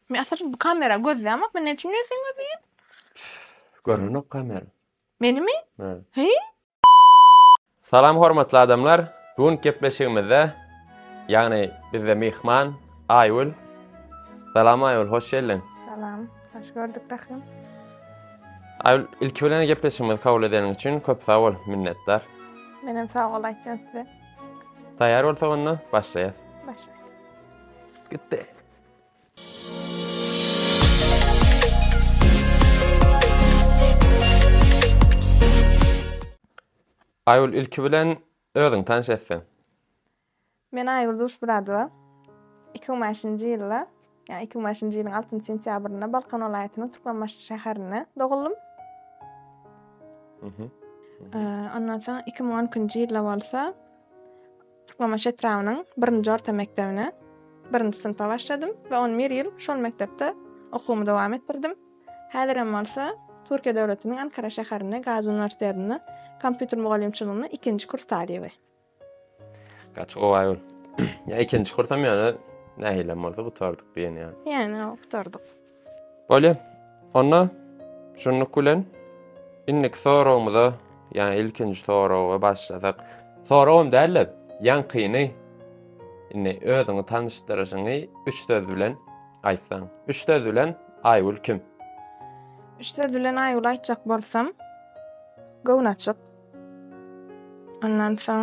Men asyryn bu kamera gözleýäňok men näçe ýüz sen gözleýin. Görnenok kamera. Menimi? Hä. Heý. Salam hormatly adamlar bu günki gepleşigimizde ýagny bizde myhman Aýgül Salam Aýgül hoş geldiň. Salam hoş gördük Rahym. Aýgül ilki bilen gepleşigimizi kabul edeniň üçin köp sag bol minnetdar. Menem sag bol aýtýan size. Taýýar bolsak onda başlaýas. Başlaýas. Gitdi. Aýgül ilki bilen özüň tanş etseň. Men Aýgül Duşmuradowa. 2005-nji ýylda, ýa 2005-nji ýylyň 6-njy sentýabrynda Balkan welaýatynyň Türkmenbaşy şäherinde doguldym. Ondan soň 2012-nji ýylda bolsa Türkmenbaşy etrabynyň birinji orta mekdebine birinji synpa başladym we on bir ýyl şol mekdepde okuwymy dowam etdirdim. Häzirem bolsa Türkiýe döwletiniň Ankara şäherinde Gazi uniwersitetinde kompýuter mugallymçylygyny ikinji kurs talyby. Gaty gowy aýol. Ýa ikinji kursam ýa-da nähilem bolsa gutardyk diýen ýaly. Ýa-da gutardyk. Bolýa. Onda şunluk bilen indiki soragymyza, ýa ilkinji soraga başlasak. Soragam däl-de, ýaňkyny indi özüňi tanyşdyryşyňy üç söz bilen aýtsaň. Üç söz bilen Aýgül kim? Üç söz bilen Aýgül aýtjak bolsam, göwnaçyk. Ondan soň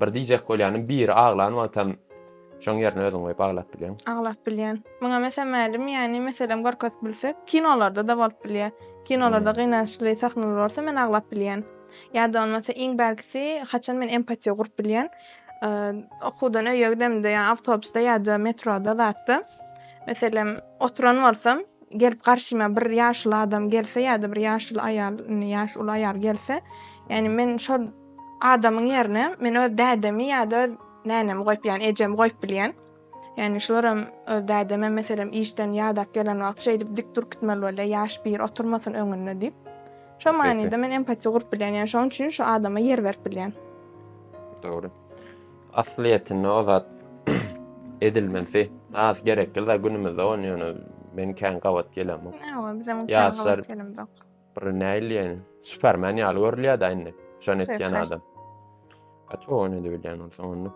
Bir diýjek bolýanym, biri aglan wagtam şoň ýerine özüň goýup aglap bilýäň. Aglap bilýän. Muňa mesel mälim, ýagny meselem görkezip bilsek, kinolarda-da bolup bilýär. Kinolarda gynançly sahnalar bolsa men aglap bilýän. Ýa-da bolmasa iň bärkisi haçan men empatiýa gurup bilýän, okuwdan öýe gidemde, ýa awtobusda ýa-da metroda zatda meselem oturan bolsam, Gelip garşyma bir ýaşuly adam gelse ýa-da bir ýaşuly aýal, indi ýaşy uly aýal gelse, ýagny men şol adamyň ýerine men öz dädemi ýa-da öz nänemi goýup, ýagny ejemi goýup bilýän. Ýagny şularam öz dädemem meselem işden ýadap gelen wagty şeýdip dik durup gitmeli bolýar, ýaş biri oturmasyn öňünde diýip. Şo manyda men empatiýa gurup bilýän, ýagny şonuň üçin şu adama ýer berip bilýän. Dogry. Aslyýetinde o zat edilmesi az gerekli zat günümizde on ýöne men kän gabat gelemok. Ýa bizem gabat gelemok. Bir näil ýene. Superman ýaly görülýär da indi. Şon etýän adam. Aç o ne diýilýän bolsa onda.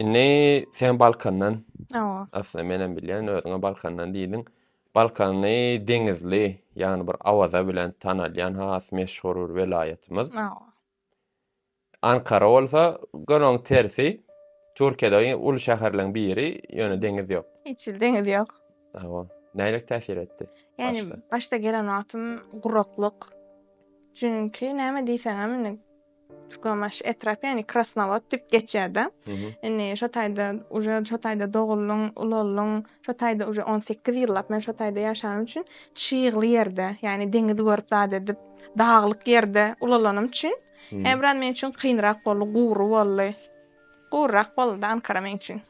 Indi sen Balkandan. Awa. Asla men hem bilýän özüňe Balkandan diýdiň. Balkany deňizli, ýagny bir awaza bilen tanalýan has meşhur bir welaýatymyz. Awa. Ankara bolsa göni oň tersi. Türkiýede uly şäherleň biri, ýöne deňiz ýok. Hiç ýyl deňiz ýok. Hawa. Nähili täsir etdi? Ýani başda gelen wagtym guraklyk. Çünki näme diýseňem indi Türkmenbaşy etrap ýani Krasnowod diýip geçýärdi. Indi şo taýda uje şo taýda doguldym, ulaldyň. Şo taýda uje on sekiz ýyllap men şo taýda ýaşanym üçin çygly ýerde, ýani deňizi görüp zat edip. daglyk ýerde ulalanym üçin ýa biraz men üçin kynrak boldy, gury boldy. Guryrak boldy Ankara men üçin.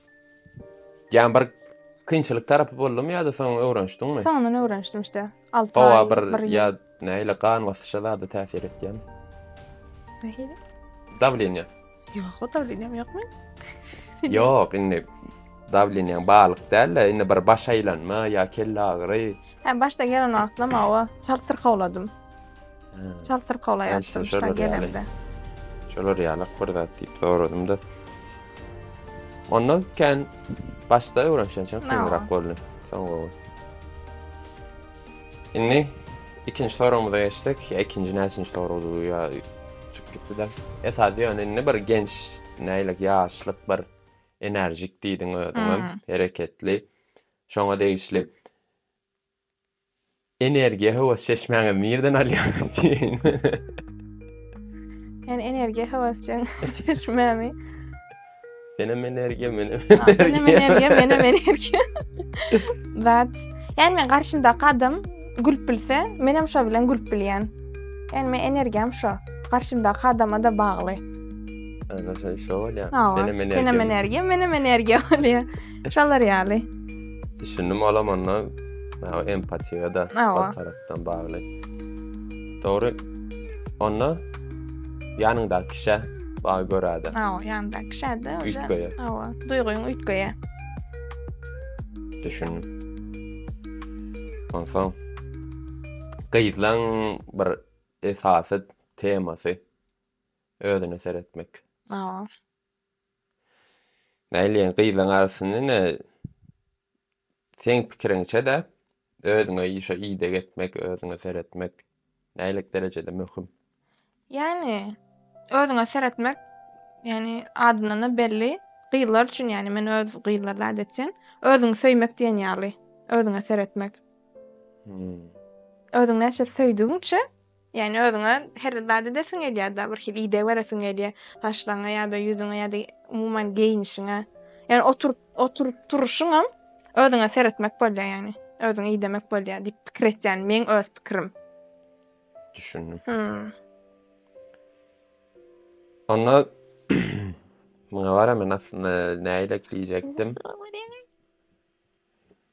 Ýa bir kynçylyk tarapy boldumy ýa-da soň öwrenişdiňmi? Soňundan öwrenişdim işte. Alty aý. Howa bir ýa näle gan basyşa zada täsir etýärmi? Nähili? Dawleniýa. Ýok, o dawleniýam ýokmy? Ýok, indi dawleniýaň balyk däl-de, indi bir baş aýlanma ýa kelle agyry. Hä, başda gelen wagtlam awa çalt syrkawladym. Çalt syrkawlaýardy şolar gelemde. Şolar ýalak bir zat diýip soradym-da. Onda kän başda öwrenişen çak kynrak boldy. Soň gowy. Indi ikinji soragymyza geçsek, ýa ikinji näçinji soragdy bu ýa çykyp gitdi-de. Esasy ýöne indi bir genç, näýlek ýaşlyk bir enerjik diýdiň özüňem, hereketli. Şoňa degişli energiýa höwes çeşmäňizi nirden alýaňyz diýeýin. Men energiýa höwes çeşmämi Senem energiýa, menem energiýa. Senem energiýa, menem energiýa. But, yani men garşymda kadam gülüp bilse, menem şo bilen gülüp bilýän. Yani men energiýam şo. Garşymda kadama da bagly. Ana şo şo bolýa. Senem energiýa. Senem energiýa, menem energiýa bolýa. Şolar ýaly. Düşündim alamanda empatiýa da. Awa. bilen bagly. Dogry. Onda ýanyňdaky kişä baý göräde. Aw, ýanyňdaky kişäde oje. Üýtgeýär. Awa, duýgyň üýtgeýär. Düşündim. Onsoň gyzlaň bir esasy temasy özüne seretmek. Awa. Näleýin gyzlaň arasynda ine seň pikiriňçe-de özüňe şo ideg etmek, özüňe seretmek nälik derejede möhüm? Ýani özüňe seretmek ýani adyndan-da belli gyzlar üçin ýani men öz gyzlar zat etsin özüňi söýmek diýen ýaly özüňe seretmek. Özüňi näçe söýdügiňçe Ýagny özüňe her zat edesiň gelýär-de, birhili ideg beresiň gelýär, saçlaryňa ýa-da ýüzüňe ýa-da umuman geýnişiňe. Ýagny oturyp, oturyp turuşyňam özüňe seretmek bolýar ýagny. Özüňi idemek bolýar diýip pikir etýän, meň öz pikirim. Düşündim. Hmm. Onda muňa gara men aslynda näýlek diýjekdim.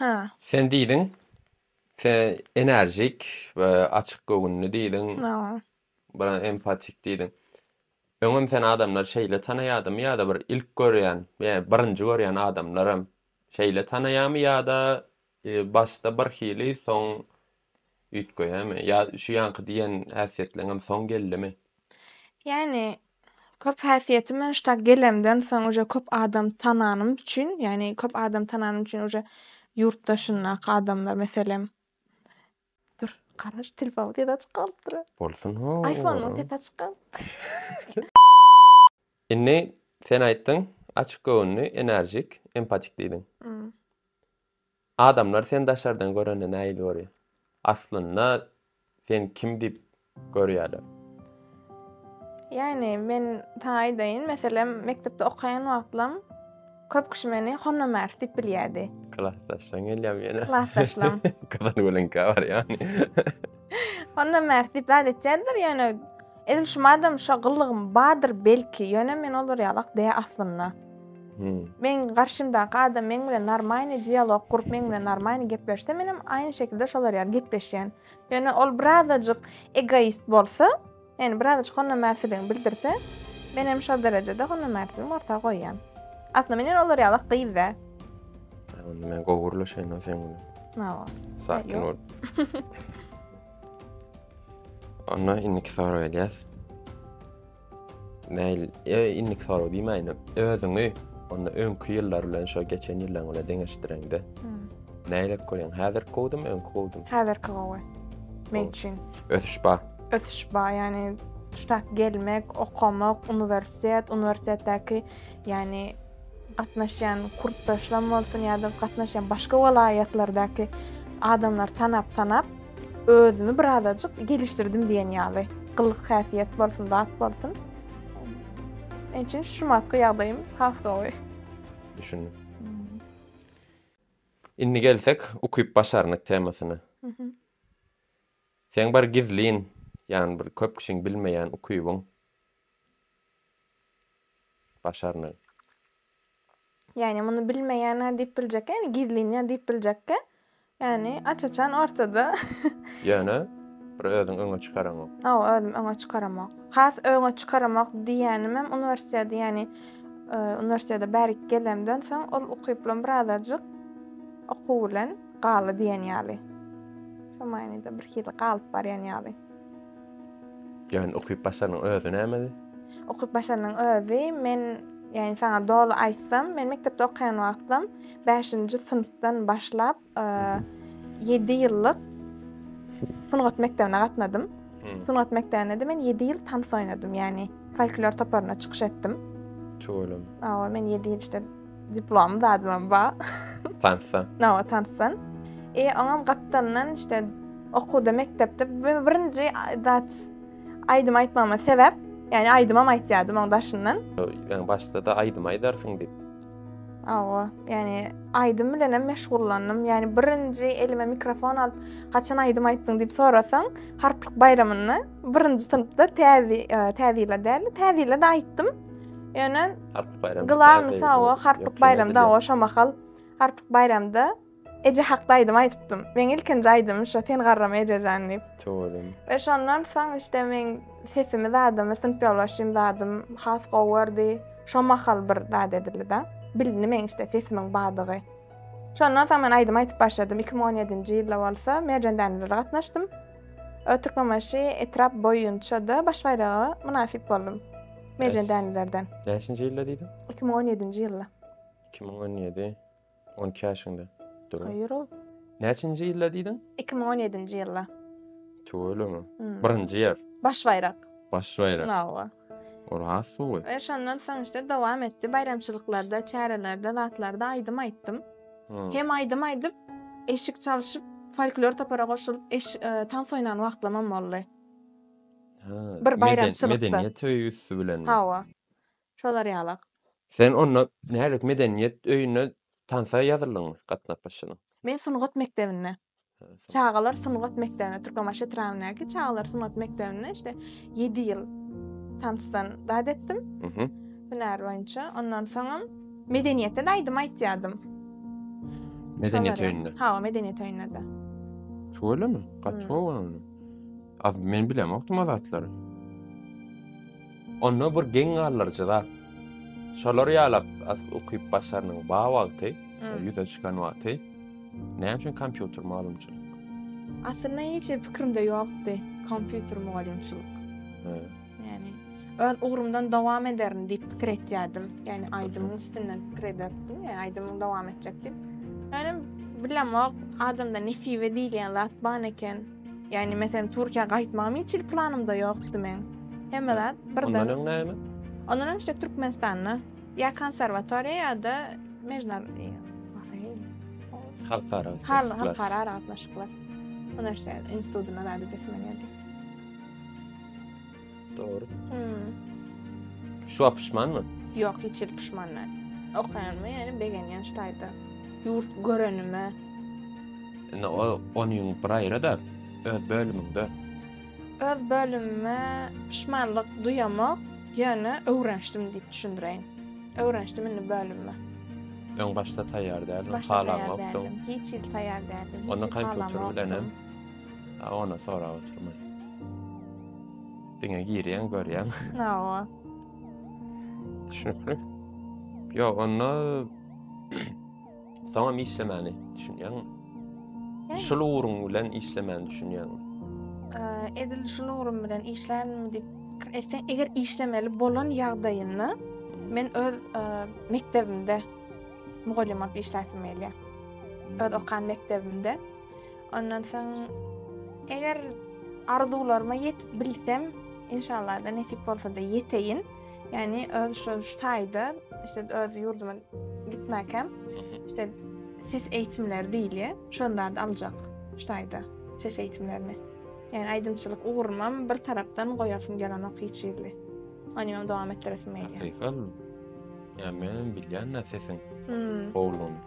Hä. Sen diýdiň, sen enerjik, e, açyk göwünli diýdiň. Hä. Bir empatik diýdiň. Öňem sen adamlary şeýle tanaýadymy ýa-da bir ilk görýän, ýa birinji görýän adamlaram şeýle tanaýamy ýa-da Başda bir hili soň üýtgeýämi? Ýa şu ýaňky diýen häsiýetleňem soň geldimi? Ýagny köp häsiýeti men şu taýy gelemden soň uje köp adam tananym üçin, ýagny köp adam tananym üçin uje ýurtdaşyndaky adamlar meselem Dur, garaş, telefonyň sesi açyk galypdyr-a. Bolsun ho. Aýfonyň sesi açyk galypdyr. Indi sen aýtdyň, açyk göwünli, enerjik, empatik diýdiň. Adamlar seni daşardan görende nähili görýär? Aslynda sen kim diýip görýärler. Ýagny men saňa aýdaýyn, meselem, mekdepde okaýan wagtlam köp kişi meni Honma Mars diýip bilýärdi. Klasdaşlaň gelýärmi ýene? Klasdaşlaň. Gyzyl gölüňkä barýarmy? Honma Mars diýip zat etýärdiler, ýöne edil şu madam şo gyllygym bardyr belki, ýöne men olar ýalak dä aslynda. Hmm. Men garşymdaky adam meň bilen normalny dialog gurup meň bilen normalny gepleşse menem aýny şekilde şolar ýaly gepleşýän. Ýöne ol birazajyk egoist bolsa, ýani birazajyk honamärsiligini bildirse, men hem şol derejede honamärsiligimi orta goýýan. Aslynda men hem olar ýaly gyz däl. Onda men gowy gürleşeýin-ow sen bilen. Hawa. Sakin bol. Onda indiki soraga gelýäs. Mail, e, innik sorag diýmäýin, özüňi onda öňki ýyllar bilen şo geçen ýyllaň bilen deňeşdireňde. Näle görýäň? Häzir gowdum, öňki gowdum. Häzirki gowy. Men üçin. Ösüş ba. Ösüş ba, ýani şu gelmek, okamak, uniwersitet, uniwersitetdäki, ýani gatnaşýan kurtdaşlam bolsun ýa-da gatnaşýan başga welaýatlardaky adamlary tanap-tanap, özümi bir azajyk gelişdirdim diýen ýaly. Gylyk-häsiýet bolsun, zat bolsun. Şonuň üçin şu wagtky ýagdaýym has gowy. Düşündim. Indi gelsek ukyp-başarnyk temasyna. Seň bir gizlin, ýagny bir köp kişiň bilmeýän ukybyň başarnygy. Ýagny muny bilmeýän ha diýip biljekkä, ýagny gizlinýär diýip biljekkä, ýagny aç-açan ortada. Ýöne bir özüň öňe çykaramok. Hawa, özüm öňe çykaramok. Has öňe çykaramok diýýänim hem uniwersiteti, ýagny e, uniwersitete bärik gelemden soň ol ukyplam birazajyk okuw bilen galy diýen ýaly. Şu manyda bir hili galyp barýan ýaly. Jan okyp başarnyň özi nämedi? Okyp başarnyň özi men ýani saňa doly aýtsam men mekdepde okaýan wagtym bäşinji synpdan başlap ýedi ýyllyk sungat mekdebine gatnadym. Sungat mekdebinde men ýedi ýyl tans oýnadym ýani folklor toparyna çykyş etdim. Çuwalym. Awa men ýedi ýyl işte Diplom zadymam ba. Tansdan. Nawa tansdan. E oňam gapdalyndan işte okuwda mekdepde birinji zat aýdym aýtmama sebäp, ýani aýdymam aýtýardym oň daşyndan. Ýani başda da aýdym aýdarsyň diýip. Awa, ýani aýdym bilen hem meşgullandym. Ýani birinji elime mikrofon alyp, haçan aýdym aýtdyň diýip sorasaň, harplyk baýramynda birinji synpda täze, täze ýyla däl, täze ýyla da aýtdym. Ýöne Harpyk baýramy. Glawny sawa harpyk baýramy da o şo mahal harpyk baýramda Eje hakda aýdym aýdypdym. Meň ilkinji aýdymym şo sen garrama ejejan diýip. Çowalym. Ve şondan soň işte men sesimi zadymy, synp ýoldaşym zadym has gowy gördi. Şo mahal bir zat edildi da. Bilindi meň işte sesimiň badygy. Şondan soň men aýdym aýdyp başladym. 2017-nji ýylda bolsa Merjen Dänelere gatnaşdym. Türkmenbaşy etrap boýunça da baş baýraga mynasyp boldum. Merjen dänelerden. Näçinji ýylda diýdim? 2017-nji ýylda. 2017 12 ýaşyňda. Dürüm. Ýuro. Näçinji ýylda diýdim? 2017-nji ýylda. Tüweleme. Hmm. Birinji ýer. Baş baýrak. Baş baýrak. Hawa. Oraz suwy. Ve şondan soň işte devam etti. Bayramçılıklarda, çärelerde, zatlarda aýdym aýtdym. Hmm. Hem aýdym aýdyp, eşik çalyşyp, folklor topara goşulyp, eş, e, tans oýnan wagtlamam boldy. Bir baýramçylykda. Medeniýet öýi üsti bilen. Hawa. Şolar ýalak. Sen onda nädip medeniýet öýüne tansa ýazyldyňmy? Gatnap başladyň. Men sungat mekdebinde. Çagalar sungat mekdebinde, Türkmenbaşy etrabyndaky çagalar sungat mekdebinde işte 7 ýyl tansdan zat etdim. Mhm. Hünär boýunça. Ondan soňam medeniýetde aýdym aýtýardym. Medeniýet öýünde. Hawa, medeniýet öýünde-de. Şolemy? Gaty gowy. Az men bilemokdym o zatlary. Onda bir geň galdyryjy zat. Şolar ýalap az ukyp başarnyň ba wagty, ýüze çykan wagty. Näme üçin kompýuter mugallymçylyk? Aslynda hiç hili pikirimde ýokdy kompýuter mugallymçylyk. Ýani öz ugrumdan dowam ederin diýip pikir etýärdim. Ýani aýdymyň üstünden pikir ederdim. Ýa aýdymyň dowam etjek diýip. Ýani bilemok adamda nesibe diýilýän zat ban eken. Yani meselen Türkiýä gaýtmagym hiç hili planymda ýokdy meň. Hemme zat birden. Ondan öň näme? Ondan öň işte Türkmenistanda ýa konserwatoriýa ýa-da mejnar halkara halkara aragatnaşyklar. Bu närsä institutyna zady gitmeli. Dogry. Hmm. Şu wagt pişmanmy? Ýok, hiç hili pişman däl. Okaýanyma ýaly begenýän şu taýda. Ýurt görenime. Indi o ony ýüňüp bir aýra-da, öz bölümiňde. Öz bölümime pişmanlyk duýamok, ýöne öwrenişdim diýip düşündireýin. Öwrenişdim indi bölümime. Öň başda taýýar däldiň, Başda taýýar halamokdyň. däldim. Hiç hili taýýar däldim. Onda hiç hili kompýuter bilenem? halamokdym. A ona sorap oturma. Diňe girýän, görýän. Hawa. Düşünikli. Yo, onda soňam işlemäni düşünýäňmi? Şul ugrun bilen işlemäni düşünýäňmi? Edil şul ugrun bilen işlärmi diýip pikir etseň, eger işlemeli bolan ýagdaýynda men öz mekdebimde mugallym bolup işläsim gelýär. Öz okan mekdebimde. Ondan soň eger arzuwlaryma ýetip bilsem, inşallah da nesip bolsa da ýeteýin. Ýani öz şu taýda, işte öz ýurduma gitmäkem, işte ses eýitimleri diýilýär. Şonda da aljak şu taýda ses eýitimlerini. Ýani aýdymçylyk ugrumam bir tarapdan goýasym gelenok hiç ýerli. Ony hem dowam etdiresim gelýär. Hakykan. Ýa men bilýän-ä sesiň gowulygyny.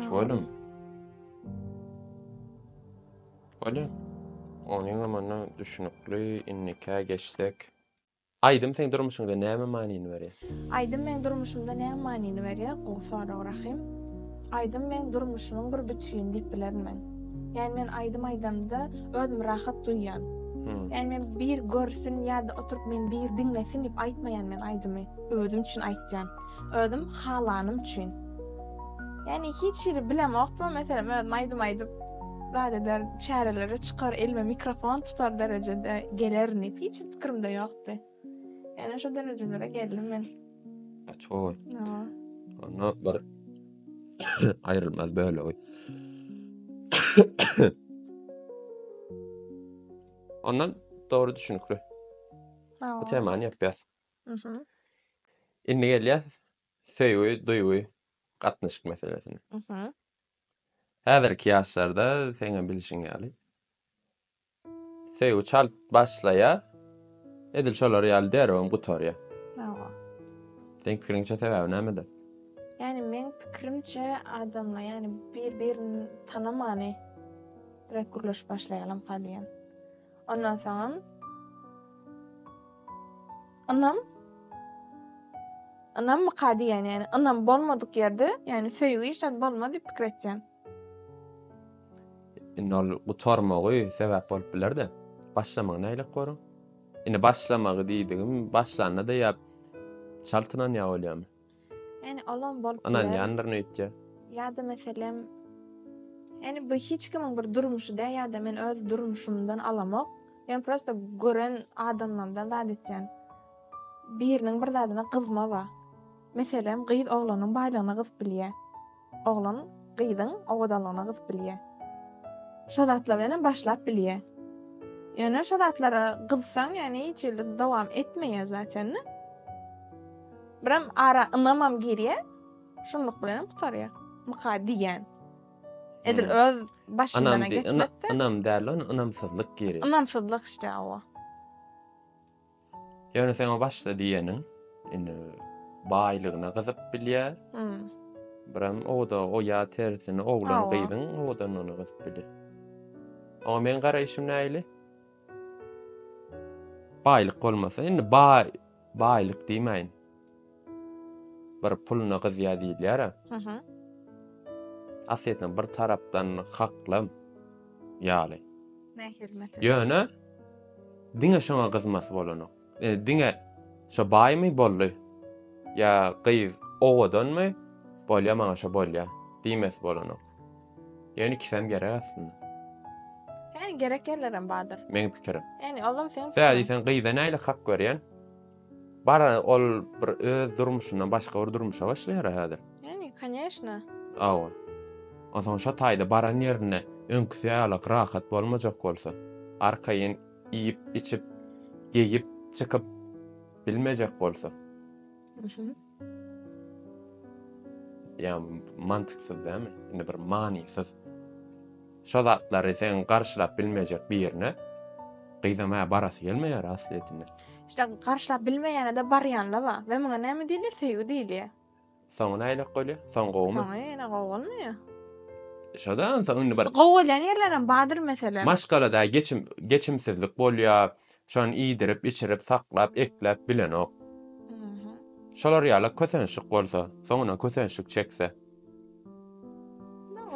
Şoýlum. Bolýa. Onyňam onda düşünikli, indikä geçsek. Aýdym seň durmuşyňda näme manyny berýär? Aýdym meň durmuşymda näme manyny berýär? Gowy sorag Rahym. Aýdym meň durmuşymyň bir bütini diýip bilerin men. Ýani men aýdym aýdamda özümi rahat duýýan. Ýani men bir görsün ýa-da oturyp meni bir diňlesin diýip aýtmaýan men aýdymy. Özüm üçin aýtýan. Özüm halanym üçin. Yani hiç ýeri bilemok bu meselem özüm aýdym aýdyp zat eder, çärelere çykar, elime mikrofon tutar derejede gelerin diýip hiç pikirimde ýokdy. Yani şu derejelere geldim men. Açoy. Ýa. Onda bir aýrylmaz bölegi. Ondan dogry düşünikli. Bu temany ýapýas. Mhm. Indi gelýäs söýgi, duýgy, gatnaşyk meselesine. Mhm. Häzirki ýaşlarda seň hem bilşiň ýaly söýgi çalt başlaýar, edil şolar ýaly derewem gutarýar. Hawa. Seň pikiriňçe sebäbi nämede? Ýani meň pikirimçe adamlar ýani bir birini tanamany direkt gürleşip başlaýarlar enka diýýän. Ondan soňam ynam ynam myka diýen, ýani ynam bolmadyk ýerde, ýani söýgi hiç zat bolmaz diýip pikir etýän. Indi ol gutarmagy sebäp bolup biler-de. Başlamagy nälik görüň? Indi başlamagy diýdigim, başlanda-da ýa çal tynanýar bolýarmy? Yani olam bolup biler. Ynanýandyr nüýtje. Ýa-da meselem Yani bu hiç kimiň bir durmuşy däl ýa-da men öz durmuşymdan alamok. Men prosta gören adamlarymdan zat etýän. Biriniň bir zadyna gyzma bar. Meselem, gyz oglanyň baýlygyna gyzyp bilýär. Oglan gyzyň owadanlygyna gyzyp bilýä. Şo zatlar bilenem başlap bilýä. Ýöne şo zatlara gyzsaň, ýagny hiç ýerde dowam etmeýä zaten. Birem ara ynamam girýä. Şunluk bilenem gutarýa. Myka diýýän. Edil hmm. öz başyndan geçmekde. Ynam däl, ynamsyzlyk girýär. Ynamsyzlyk işte o. Ýöne seň o başda diýeniň, indi baýlygyna gyzyp bilýär. Biram o da o ýa tersini oglan gyzyň odan ony gyzyp bilýär. Oňa meň garaýşym näili? Baýlyk bolmasa, indi baý baýlyk diýmäýin. bir puluna gyzýar diýilýär a. Aha. Aslynda bir tarapdan haklam ýaly. Mähir meselesi. Ýöne diňe şoňa gyzmasy bolanok. E, diňe şo baýmy boldy. Ýa gyz owadanmy? Bolýa maňa şo bolýa diýmesi bolanok. Ýöne ikisem gerek aslynda. Ýani gerek ýerlerem bardyr. Meň pikirim. Ýani olam seň. Däli sen gyza näle hak görýän? Bar ol bir öz durmuşyndan başga bir durmuşa başlaýar häzir. Ýani, konýeşna. Awa. Onsoň şo taýda baran ýerinde öňküsi ýaly rahat bolmajak bolsa, arkaýyn iýip, içip, geýip, çykyp bilmejek bolsa. Ýa mantyksyz dämi? Indi bir manysyz. Şo zatlary sen garşylap bilmejek birine gyzam hä barasy gelmeýär aslyýetinde. İşte garşylap bilmeýänede barýanla bar. We muňa näme diýilýär? Söýgi diýilýär. Soňy nähilek bolýar? Soň gowumy? Soňy ýene gowy bolmaýar. Şoda indi bir gowy bolýan ýerlerem bardyr meselem. Maşgalada geçim geçimsizlik bolýar, Şony iýdirip, içirip, saklap, ekläp bilenok. Şolar ýala kösençlik bolsa, soňuna kösençlik çekse.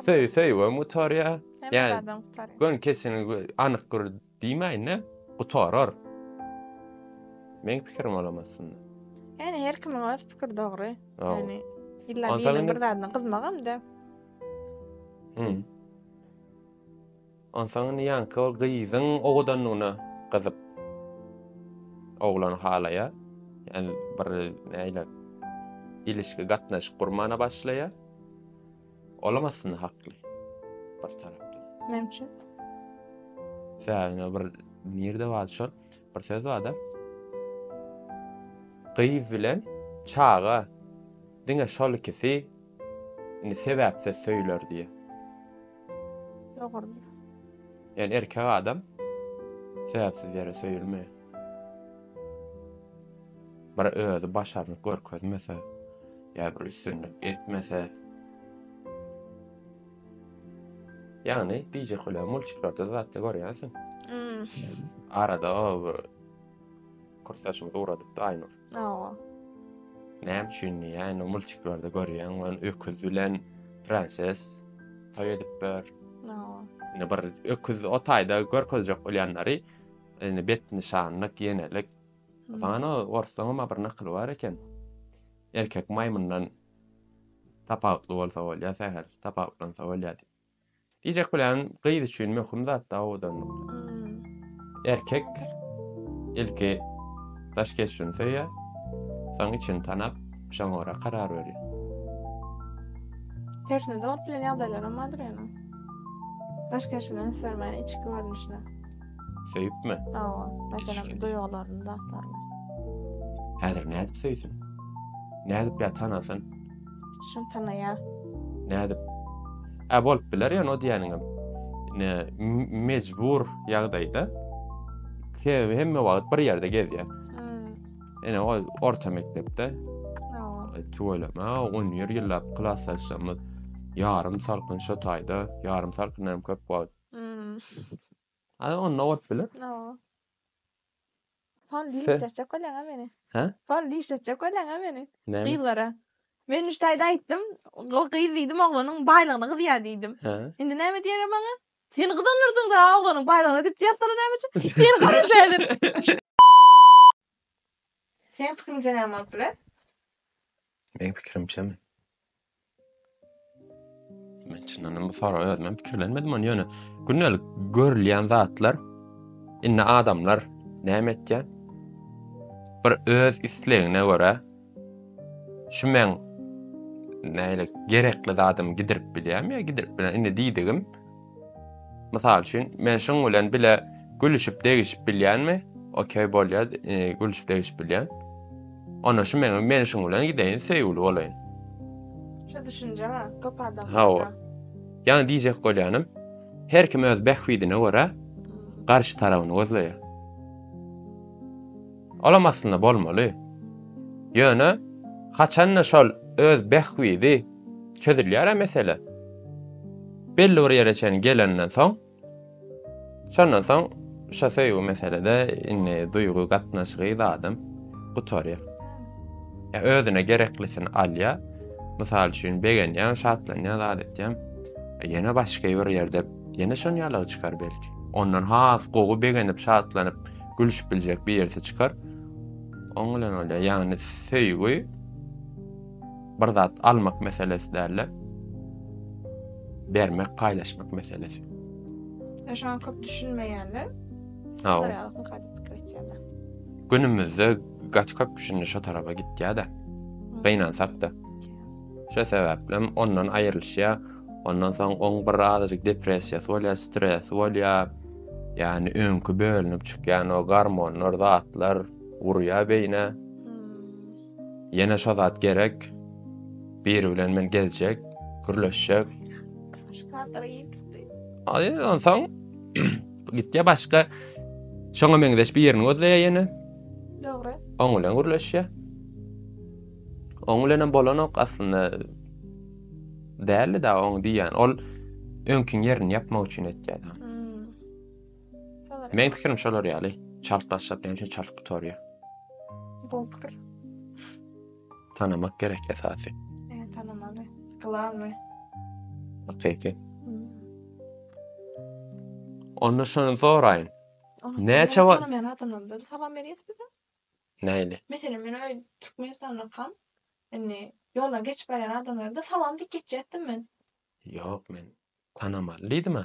Söý, söýgem gutarýa. Ýa-da gön kesin anyk bir diýmäýin-de, gutarar. Meň pikirim olam aslynda. Ýani her kimiň öz pikiri dogry. Ýani illa biriniň bir zadyna gyzmagam-da. Hum. Onsoň indi ýaňky ol gyzyň owadanlygyna gyzyp, oglany halaýar. Ýani bir nähili ilişki, gatnaşyk gurmana başlaýar. Olam aslynda hakly bir tarapdan. Näme üçin? Sebäbi bir nirde bar şol bir söz bar-da. Gyz bilen çaga diňe şol ikisi indi sebäpsiz söýüler diýýär. Dogrudyr. Ýöne erkek adam sebäpsiz ýere söýülmeýär. Bir özi başarnyp görkezmese, ýa bir üstünlik etmese, ýagny diýjek bolýan multiklarda zatda görýänsiň. Hmm. Arada o bir kursaşymyz ugradypdy Aynur. Awa. Näme üçin diýýä, indi multiklerde görýäň, ol öküz bilen prenses toý edipler. Awa. Indi bir öküz o taýda görkezjek bolýanlary indi bet nyşanlyk, ýenelik. O zaman o orsuň hem bir nakyly bar eken. Erkek maýmyndan tapawutly bolsa bolýar, sähel tapawutlansa bolýar diýip. Diýjek bilen gyz üçin möhüm zatda owadanlyk. Erkek ilki daş keşbini söýýär, soň içini tanap, şoňa görä karar berýär. Tersine dolup bilen ýagdaýlaram bardyr ýöne. Daş keşbini üns bermän içki görnüşine. Söýüpmi? Hawa, meselem duýgularyny zatlaryny. Häzir nädip söýsün? Nädip ýa tanasyn? Şuny tanaýa. Nädip? Ä bolup biler ýöne o diýeniňem. Ne mejbur ýagdaýda. Sebäbi hemme wagt bir ýerde gezýär. Ene o orta mekdepde. Tüweleme, on ýer ýyllap klasdaşlarymyz ýarym salkyn şo taýda, ýarym salkyn hem köp wagt. Ana onda bolup biler. Fal diýişdirjek bolyň-a meni. Hä? Fal diýişdirjek bolyň-a meni. Näme? Gyzlara. Men Nüştaýda aýtdym, ol gyz diýdim, oglanyň baýlygyna gyzýar diýdim. Hä? Indi näme diýerem maňa? Sen gyzanyrdyň-da oglanyň baýlygyna diýip ýazsalar näme üçin? Sen garaşa edin. Seniň pikiriňçe näme bolup biler? Meň pikirimçemi? Men çyndan bu sora özüm pikirlenmedim ony ýöne gündelik görülýän zatlar indi adamlar näme etýär? Bir öz islegine görä şu men näle gerekli zadymy gidirip bilýärmi ýa gidirip bilýär. Indi diýdigim Mysal üçin, men şuň bilen bile gülüşip degişip bilýänmi? Okey bolýa, e, gülüşip degişip bilýän. Ona şu meňe men şuň bilen gideýin, söýgüli bolaýyn. Şu düşünje bar, köp adam. Hawa. Ýani diýjek bolýanym, her kim öz bähbidine görä garşy tarabyny gözleýär. Olam aslynda bolmaly. Ýöne haçanda şol öz bähbidi Çözülýär-ä mesele. Belli bir ýere çenli gelenden soň, şondan soň şo söýgi meselede indi duýgy gatnaşygy zadam gutarýar. Ýa özüne gereklisini alýar. Mysal üçin begenýär, şatlanýar, zat etýär. Ýene başga bir ýerde ýene şon ýalygy çykar belki. Ondan has gowy begenip, şatlanyp, gülüşip biljek birisi çykar. Oň bilen bolýar. Ýagny söýgi bir zat almak meselesi däl-de, bermek, paýlaşmak meselesi. Ýa şoňa köp düşünmeýärler. Hawa. Ýa-da gaty pikir etýärler. Günümizde gaty köp düşündi şo tarapa gitýär-de. Gynansak-da. Şo sebäpli hem ondan aýrylyşýar. Ondan soň oň bir azajyk depressiýasy bolýar, stresi bolýar. Ýani öňki bölünip çykýan o gormonlar, zatlar urýar beýnä. Ýene şo zat gerek. Biri bilen men gezjek, gürleşjek. Aý, onsoň gitýä başga şoňa meňzeş birini gözleýä ýene. Dogry. Oň bilen gürleşýä. Oň bilen hem bolanok aslynda. Däldi-de oň diýýän. Ol öňkiň ýerini ýapmak üçin etýär. Meň pikirim şolar ýaly. Çalt başlap näme üçin çalt gutarýar? Gowy pikir. Tanamak gerek esasy. Eee, tanamaly. Glawny. Hakyky. Onda şony soraýyn. Näçe wa- Tanamaýan adamlardan salam berýäs bize. Näli? Meselem, men öý Türkmenistanda kal. Indi ýolda geçip barýan adamlara da salam diýip geçýärdim men. Ýok, men tanamaly diýdim-ä.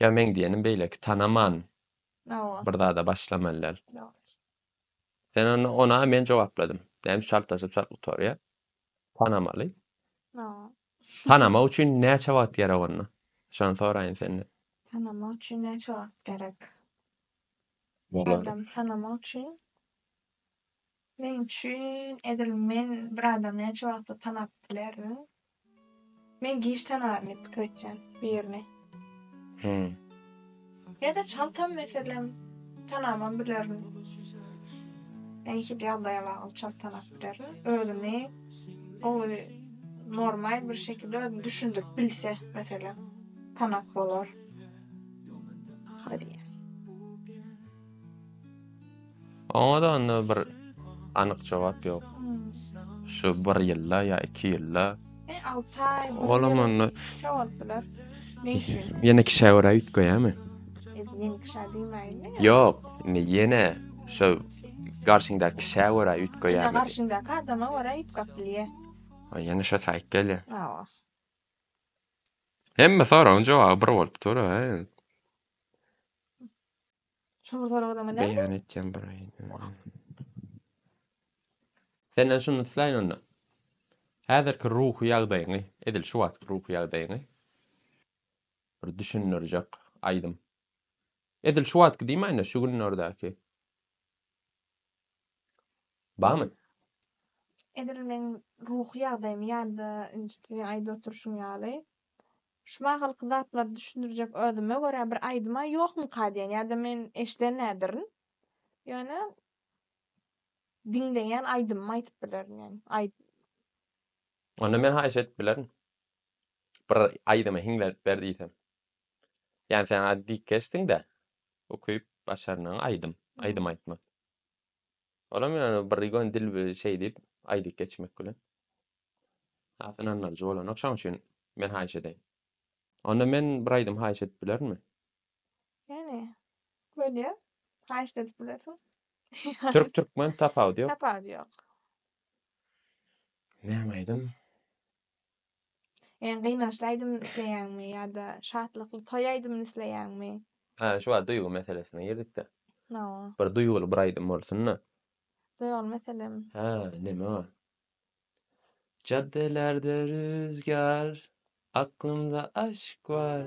Ýa meň diýenim beýleki tanaman Hawa. bir zada başlamalylar. Sen onda ona men jogapladym. Näme üçin çaltlaşyp çalt gutarýar? Tanamaly. Hawa. Tanamak üçin näçe wagt gerek onda? Şony soraýyn senden. Tanamak üçin näçe wagt gerek? Olar Adam tanamak üçin Meň üçin edil men bir adamy näçe wagtda tanap bilerin? Men giç tanaryn diýip pikir etýän birini. Hum. Ýa-da çaltam meselem tanamam bilerin. Ýa hil ýagdaýa bagly çalt tanap bilerin. Özüni gowy normal bir şekilde özüni düşündirip bilse meselem tanap bolar. Hadi. Oňa-da onda bir anyk jogap ýok. Şu bir ýylda ýa iki ýylda. E, alty aý, bir ýyl. Olam onda. Şo bolup biler. Ne üçin? Ýene kişä görä üýtgeýärmi? Biz ýene kişä diýmäýeli. Ýok, indi ýene şo garşyňdaky kişä görä üýtgeýärmi? Ýene garşyňdaky adama görä üýtgäp bilýär. A, ýene şo saýt gelýär. Hawa. Hemme soragyň jogaby bir bolup dur-a. Şuňa soraglaryň näme? Beýan etýän bir Senden şuny islaýyn onda. Häzirki ruhy ýagdaýyňy, edil şu wagtky ruhy ýagdaýyňy bir düşündirjek aýdym. Edil şu wagtky diýmäýin-de, şu günlerdäki. Barmy? Edil meň ruhy ýagdaýym ýa-da inçe aýdyp oturşyň ýaly. Şuma galky zatlary düşündirjek özüme görä bir aýdyma ýokmyka diýen ýa-da men eşdenädirin. Ýöne diňleýän aýdymymy aýdyp bilerin ýöne aý. Onda men haýyş edip bilerin. Bir aýdymy hiňlenip ber diýsem. Ýani sen az diýkeşsiň-dä. Ukyp başarnyň aýdym aýdym aýtmak. Olam ýöne bir ýöne dil bi şeý diýip aýdyp geçmek bilen. Has ynandyryjy bolanok şoň üçin men haýyş edeýin. Onda men bir aýdym haýyş edip bilerinmi? Ýöne bolýa haýyşda edip bilersiň. Türk türkmen tapawudy ýok. Tapawudy ýok. Näme aýdym? Iň gynançly aýdymyny isleýäňmi ýa-da şatlykly toý aýdymyny isleýäňmi? Hä, şu wagt duýgy meselesine girdik-dä. Hawa. Bir duýguly bir aýdym bolsun-da. Duýguly meselem. Hä, näme o? Jaddelerde rüzgar, aklymda aşk bar.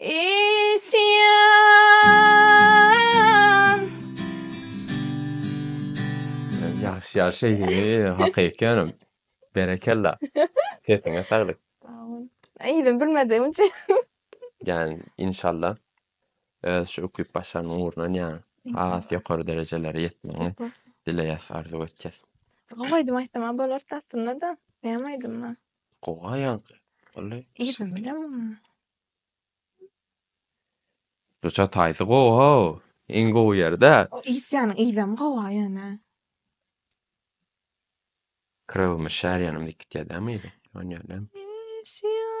Isyan Ýagşy ýagşy hak ekýanym. Berekella. Sesiňe saglyk. Aýdym bilmedim üçin. Yani inşallah öz şu ukyp başarnyň ugrundan yani has ýokary derejelere ýetmegiňi dileýäs, arzuw etýäs. Gowy aýdym aýtsam bolardy aslynda-da. Näme aýdymmy? Gowa ýaňky. Wally. Yzyny bilemokmy? Ruçja taýsy gowy how. Iň gowy ýerde. O isýanyň yzam gowa ýöne. Krylmy şär ýanym diýip gitýär dämi yzy? Ýöne ýöne. Isýan.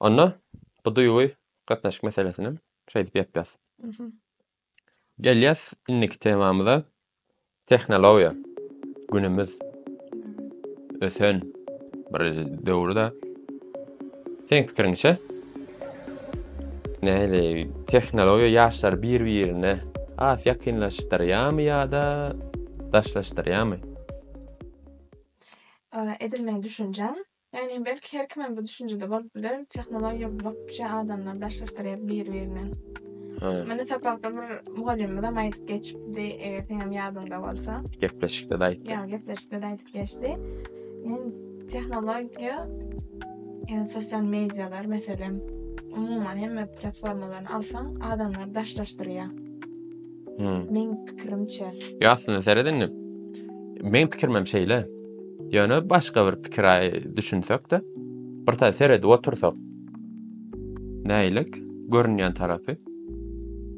Onda bu duýgy gatnaşyk meselesini hem şeýdip ýapýas. Gelýäs indiki temamyza. Tehnologiýa. Günümiz ösen bir döwürde. Seň pikiriňçe näle tehnologiýa ýaşlary bir-birine has ýakynlaşdyrýarmy ýa-da daşlaşdyrýarmy? Edil meň düşünjem, Ýagny belki her kimem bu düşünjede bolup biler, tehnologiýa wapşe adamlary daşlaşdyrýar bir-birinden. Muny sapakda bir mugallymymyzam aýdyp geçipdi, eger seňem ýadyňda bolsa. Gepleşikde-de aýtdy. Ýa, gepleşikde-de aýdyp geçdi. Men tehnologiýa, ýagny sosial medialar meselem, umuman hemme platformalary alsaň, adamlary daşlaşdyrýar. Hmm. Meň pikirimçe. Ýa aslynda seret indi. Meň pikirim hem şeýle. Ýöne başga bir pikire düşünsek-de, bir taý seredip otursak. Näýlik görünýän tarapy?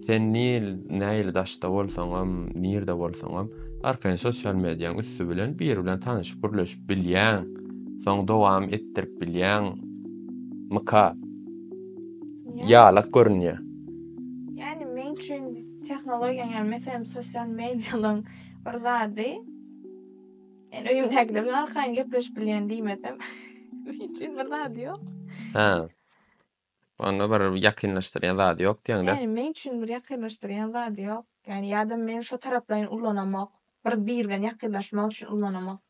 Sen nil näýli daşda bolsaňam, nirde bolsaňam, arkaýyn sosial mediýaň üsti bilen bir bilen tanyşyp gürleşip bilýäň. Soň dowam etdirip bilýäň. Myka. Ýalak görünýär. Ýani men üçin tehnologiýa ýani meselem sosial mediýalaň bir zady men öýümdäkiler bilen arkaýyn gepleşip bilýän diýmesem men üçin bir zady ýok. Hä. Onda bir ýakynlaşdyrýan zady ýok diýeňdä. Ýani men üçin bir ýakynlaşdyrýan zady ýok. Ýani ýa-da men şo taraplaýyn ulanamok. Bir biri bilen ýakynlaşmak üçin ulanamok.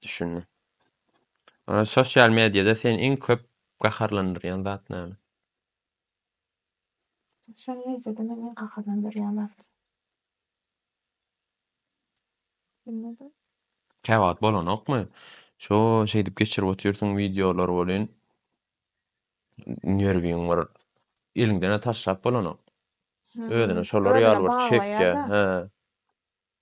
Düşündim. Sosial mediýada seni iň köp gaharlandyrýan zat näme? Şol rejede meni gaharlandyrýan zat. Bilmedim. Käwagt bolanokmy? Şo şeýdip geçirip otyrsyň wideolar welin nerwiň bir eliňden-ä taşlap bolanok. Özüne şolar ýaly bir çekýä. He.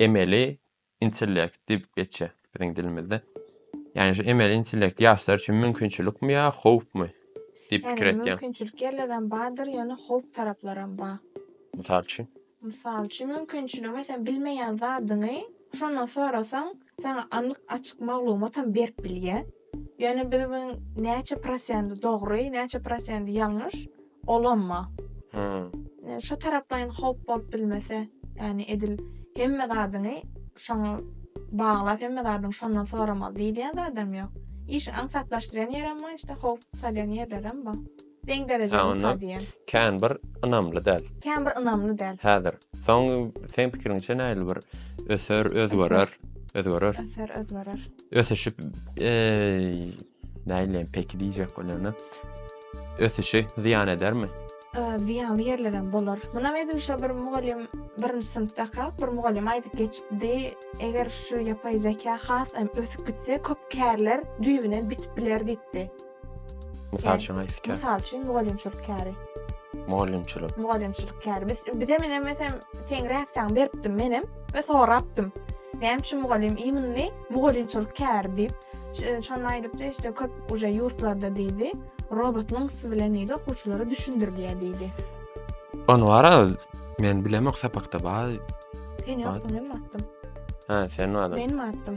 emeli intellekt diýip geçýär biziň dilimizde. Ýani şu emeli intellekt ýaşlar üçin mümkinçilikmi ýa howpmy diýip pikir etýäň? Mümkinçilik ýerlerem bardyr, ýöne howp taraplaram bar. Mysal üçin? Mysal üçin mümkinçiligi meselem bilmeýän zadyňy şondan sorasaň saňa anyk açyk maglumatam berip bilýär. Ýöne biz bu näçe prosent dogry, näçe prosent ýalňyş, olamma. Şu taraplaýyn howp bolup bilmese, ýani edil hemme zadyňy şoňa baglap, hemme zadyňy şondan soramaly diýilýän zadam ýok. Işi aňsatlaşdyrýan ýerem bar, işte howp salýan ýerlerem bar. Deň derejeli Ynha diýen. Kän bir ynamly däl. Kän bir ynamly däl. Häzir. Soň seň pikiriňçe nähili bir öser, özgerer, özgerer. Öser, özgerer. Ösüşip nähili peki diýjek bolanda ösüşi zyýan edermi? Zyýanly ýerleri hem bolar. Munam edil şo bir mugallym birinji synpdaka bir mugallym aýdyp geçipdi. Eger şu ýapaý zeka has hem ösüp gitse köp kärler düýbünden bitip biler diýipdi. Mysal üçin haýsy kär? Mysal üçin mugallymçylyk käri. Mugallymçylyk. Mugallymçylyk käri. Biz bize men hem mesem sen reaksiýaňy beripdim men hem we sorapdym. Näme üçin mugallym iýmini mugallymçylyk käri diýip, şonda aýdypdy, işte köp uje ýurtlarda diýdi, robotlaryň üsti bilen diýdi, okuwçylara düşündirilýär diýdi. On bar Men bilemok sapakda bar. Sen ýokdyň, men batdym. Ha, sen bardyň. Men batdym.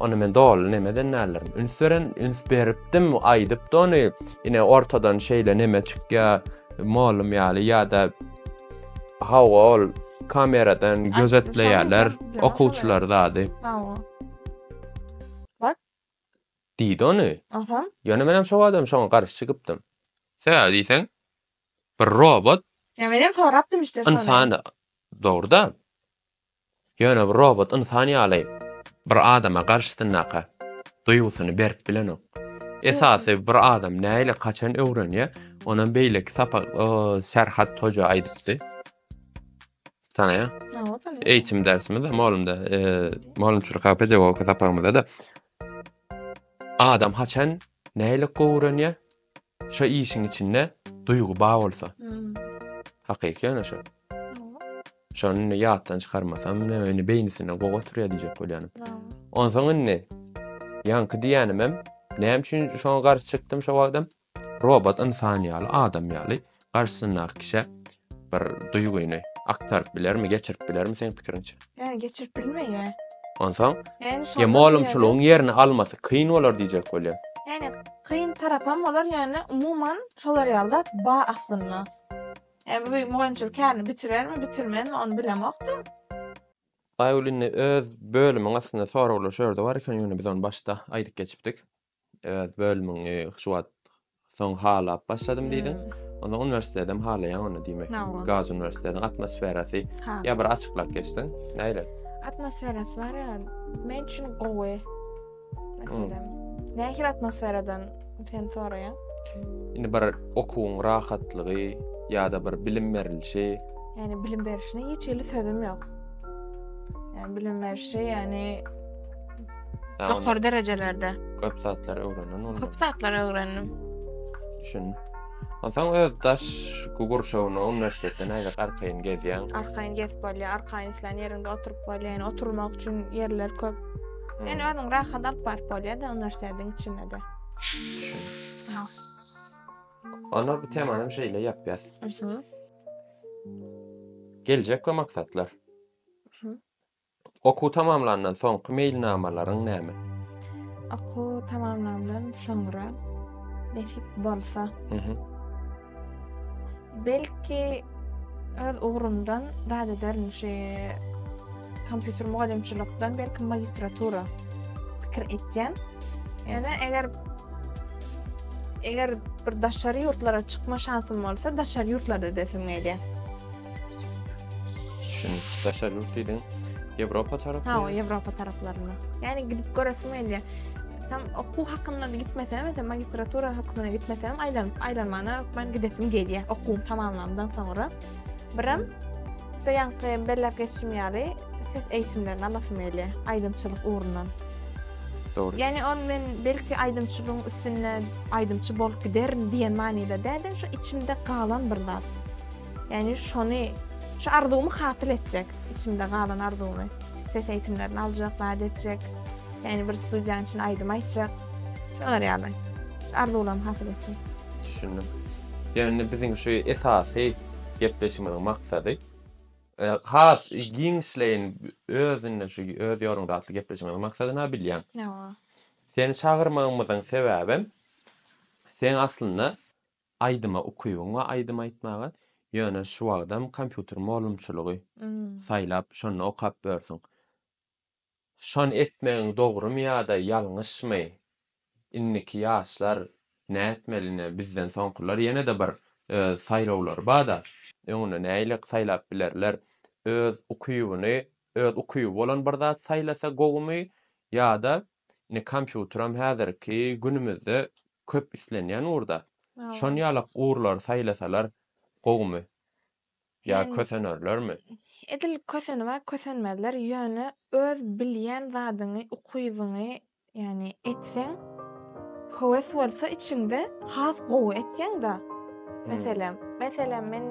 Ony men doly neme eden däldirin. Üns beren, üns beripdim, aýdypdy ony. Ine ortadan şeýle neme çykýar, molum ýaly ýa-da hawa ol kameradan gözetleýärler okuwçylar zady. Hawa. Bak. Diýdi ony. Aha. Ýöne menem şo wagtam şoňa garşy çykypdym. Sebäbi diýseň, bir robot Ýa menem sorapdym işte şony. Ynsan dogruda. Ýöne bir robot ynsan ýaly bir adama garşysyndaka duýgusyny berip bilenok. Esasy bir adam näle haçan öwrenýä onam beýleki sapak Serhat hoja aýdypdy. Tanaýa. Eýitim dersimizde molumda molumçylyk hak pedagogika sapagymyzda da adam haçan näle gowrenýä Şo işiň içinde duýgy bar bolsa. Hakyky ýöne şo. Şony indi ýatdan çykarmasam, näme indi beýnisinde gowy oturýar diýjek bolýanym. Onsoň indi ýaňky diýýänim hem, näme üçin şoňa garşy çykdym şo wagtam? Robot ynsan ýaly, adam ýaly garşysyndaky kişä bir duýgyny aktaryp bilermi, geçirip bilermi seň pikiriňçe? Ýa geçirip bilmeýär. Onsoň, Ýani şondan molumçylygyň ýerine- ýerini almasy kyn bolar diýjek bolýan. Ýani kyn tarap hem bolar, ýani umuman şolar ýaly zat bar aslynda. Ýa bu mugallymçylyk kärini bitirermi, bitirmezmi ony bilemokdym. Aýgül indi öz bölümiň aslynda soraglar şu ýerde bar eken, ýöne biz ony başda aýdyp geçipdik. Öz bölümiňi şu wagt soň halap başladym diýdiň. Onda uniwersitedem halaýaň onda diýmek. Gaz uniwersitetiň atmosferasy ýa bir açyklap geçseň, näre? Atmosferasy bar ýa, men üçin gowy. Meselem, nähili atmosferadan sen soraýaň? Indi bir okuwyň rahatlygy ýa-da bir bilim berilişi. Ýani bilim berişine hiç hili sözüm ýok. Ýani bilim berişi, ýani Ýokary derejelerde. Köp zatlar öwrendin onda. Köp zatlar öwrendim. Düşün. Onsoň öz daş gurşawyna uniwersitetde nädip arkaýyn gezýäň? Arkaýyn gezip bolýar, arkaýyn islän ýeriňde oturyp bolýar. Ýani oturmak üçin ýerler köp. Hmm. Ýani özüň rahat alyp baryp bolýar-da uniwersitetiň içinde-de. Düşün. Ha. Onda bu temany hem şeýle ýapýas. Geljek we maksatlar. Okuw tamamlandan soňky meýilnamalaryň näme? Okuw tamamlandan soňra nesip bolsa, belki öz ugrumdan zat ederin, şu kompýuter mugallymçylykdan belki magistratura pikir etýän. Ýöne eger eger bir daşary ýurtlara çykma şansym bolsa, daşary ýurtlarda edersim gelýär. Şun daşar yurt diýdiň. Ýewropa tarapy. Ha, Ýewropa taraplaryna. Ýani gidip göresim gelýär. Tam okuw hakynda gitmesem, ýa magistratura hökmüne gitmesem, aýlanyp aýlanmana hökmän gidesim gelýär. Okuw tamamlandan soňra birim şu ýanky belläp geçişim ýaly ses eýitimlerini alasym gelýär, aýdymçylyk ugrundan. Dogry. Ýani ol men belki aýdymçylygyň üstünde aýdymçy bolup giderin diýen manyda däl-de, şu içimde galan bir zat. Ýani şony şu arzuwymy hasyl etjek, içimde galan arzuwymy. Ses eýitimlerini aljak, zat etjek. Ýani bir studiýanyň içinde aýdym aýtjak. Şolar ýaly. Şu arzuwlarymy hasyl etjek. Düşündim. Ýani biziň şu esasy gepleşigimiziň maksady has giňişleýin özünden şu öz ýoluňda atly gepleşigimiziň maksady nä bilýäň? Nä? Seni çagyrmagymyzyň sebäbem seň aslynda Aýdyma ukybyň we aýdym aýtmaga ýöne şu wagtam kompýuter molumçylygy saýlap şonda okap börsiň. Şon etmegiň dogrymy ýada ýalňyşmy indiki ýaşlar nätmeli ine bizden soňkylar ýenede bir öz saýlawlary bada öňüne näilik saýlap bilerler öz ukybyny öz ukyby bolan bir zat saýlasa gowumy ýada ine kompýuteram häzirki günümizde Köp islenýän ugurda şon ýalak ugurlary saýlasalar gowumy? Ýa kösenerlermi? Edil kösenibä kösenmezler, ýöne öz bilýän zadyňy, ukybyňy ýani etseň, höwes bolsa içiňde has gowy etýäňda. Meselem, meselem men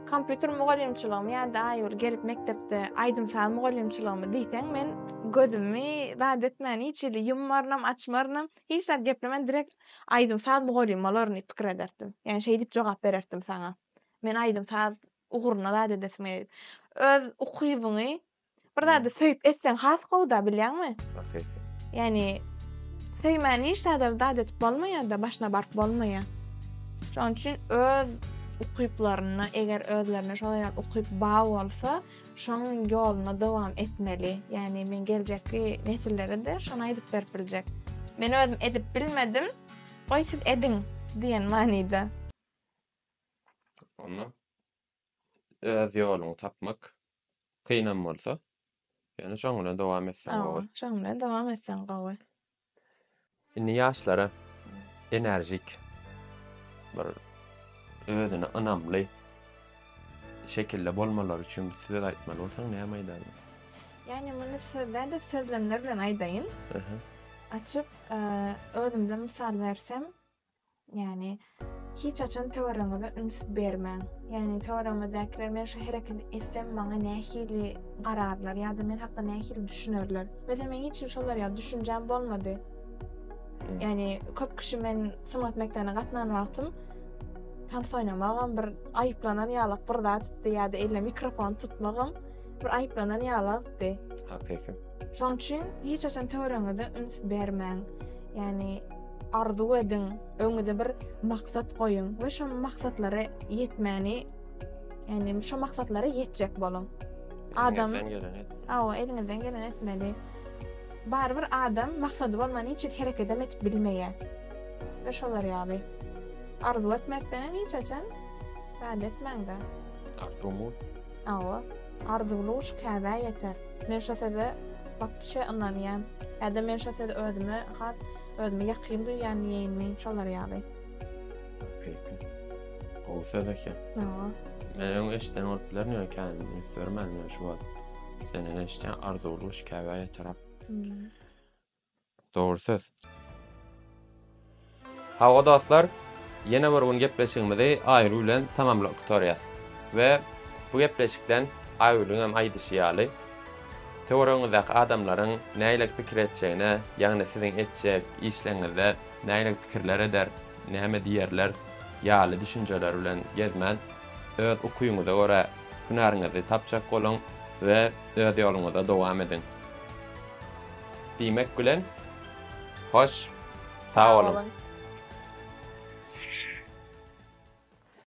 kompýuter mugallymçylygymy ýa-da Aýgül gelip mekdepde aýdym-saz mugallymçylygymy diýseň men gözümi zat etmän hiç hili ýummarynam, açmarynam, Hiç zat geplemän direkt aýdym-saz mugallymy bolaryn pikir ederdim. Ýagny şeýdip jogap bererdim saňa. Men aýdym-saz ugruna zat edesim gelýär. Öz ukybyňy bir zady söýüp etseň has gowy-da bilýäňmi? Ahyrki. Ýagny söýmän hiç zada zat edip bolmaýar-da, başyna baryp bolmaýar. Şonuň üçin öz ukyplaryna eger özlerine şolaý ýaly ukyp bar bolsa, şoň ýoluna dowam etmeli. Ýagny men geljekki nesillere-de şony aýdyp berip biljek. Men özüm edip bilmedim, goý siz ediň diýen manyda. Onda öz ýoluňy tapmak kynam bolsa, ýöne şoň bilen dowam etseň gowy. Şoň bilen dowam etseň gowy. Indi ýaşlara enerjik bir özüne ynamly şekilde bolmalary üçin bir söz aýtmaly bolsaň näme aýdardyň? Ýagny muny söz däl-de sözlemler bilen aýdaýyn. Açyp özümden mysal bersem, Ýagny hiç haçan töweregiňize üns bermäň. Ýagny töweregiňizdäkiler men şu hereketi etsem maňa nähili gararlar ýa-da men hakda nähili düşünerler. Mesela men hiç şolar ýaly düşünjäm bolmady. Ýagny köp kişi men sungat mekdebine gatnan wagtym tans oýnamagam bir aýyplanan ýalak bir zat etdi ýa-da eline mikrofon tutmagam bir aýyplanan ýalakdy. Hakyky. Şoň üçin hiç haçan töweregiňize üns bermäň. Ýagny arzuw ediň, öňüňize bir maksat goýuň we şo maksatlara ýetmäni, ýagny şo maksatlara ýetjek boluň. Adam Awa, eliňizden geleni etmeli. Barybir adam maksady bolman hiç zat hereket edip bilmeýär. Ve şolar ýaly. Arzuw etmekden hiç haçan bad etmäň-de. Arzuw Hawa, arzuwly guş käbä ýeter. Men şo söze bapbişe ynanýan. Ýa-da men şo sözi özüme has özümi ýakyn duýýan diýeýinmi, şolar ýaly. Hakyky. Gowy söz eken. Hawa. Men öň eşiden bolup bilerin, ýöne kän üns bermändim, ýöne şu wagt senden eşitýän, arzuwly guş käbä ýeter. Dogry söz. Hawa dostlar, ýene bir gün gepleşigimizi Aýgül bilen tamamlap gutarýas. We bu gepleşikden Aýgülüň hem aýdyşy ýaly, töweregiňizdäki adamlaryň nähili pikir etjegine, ýagny siziň etjek işleriňizde nähili pikirler eder, näme diýerler ýaly düşünjeler bilen gezmän, öz ukyňyza görä hünäriňizi tapjak boluň we öz ýoluňyza dowam ediň. diýmek bilen, hoş, sag boluň!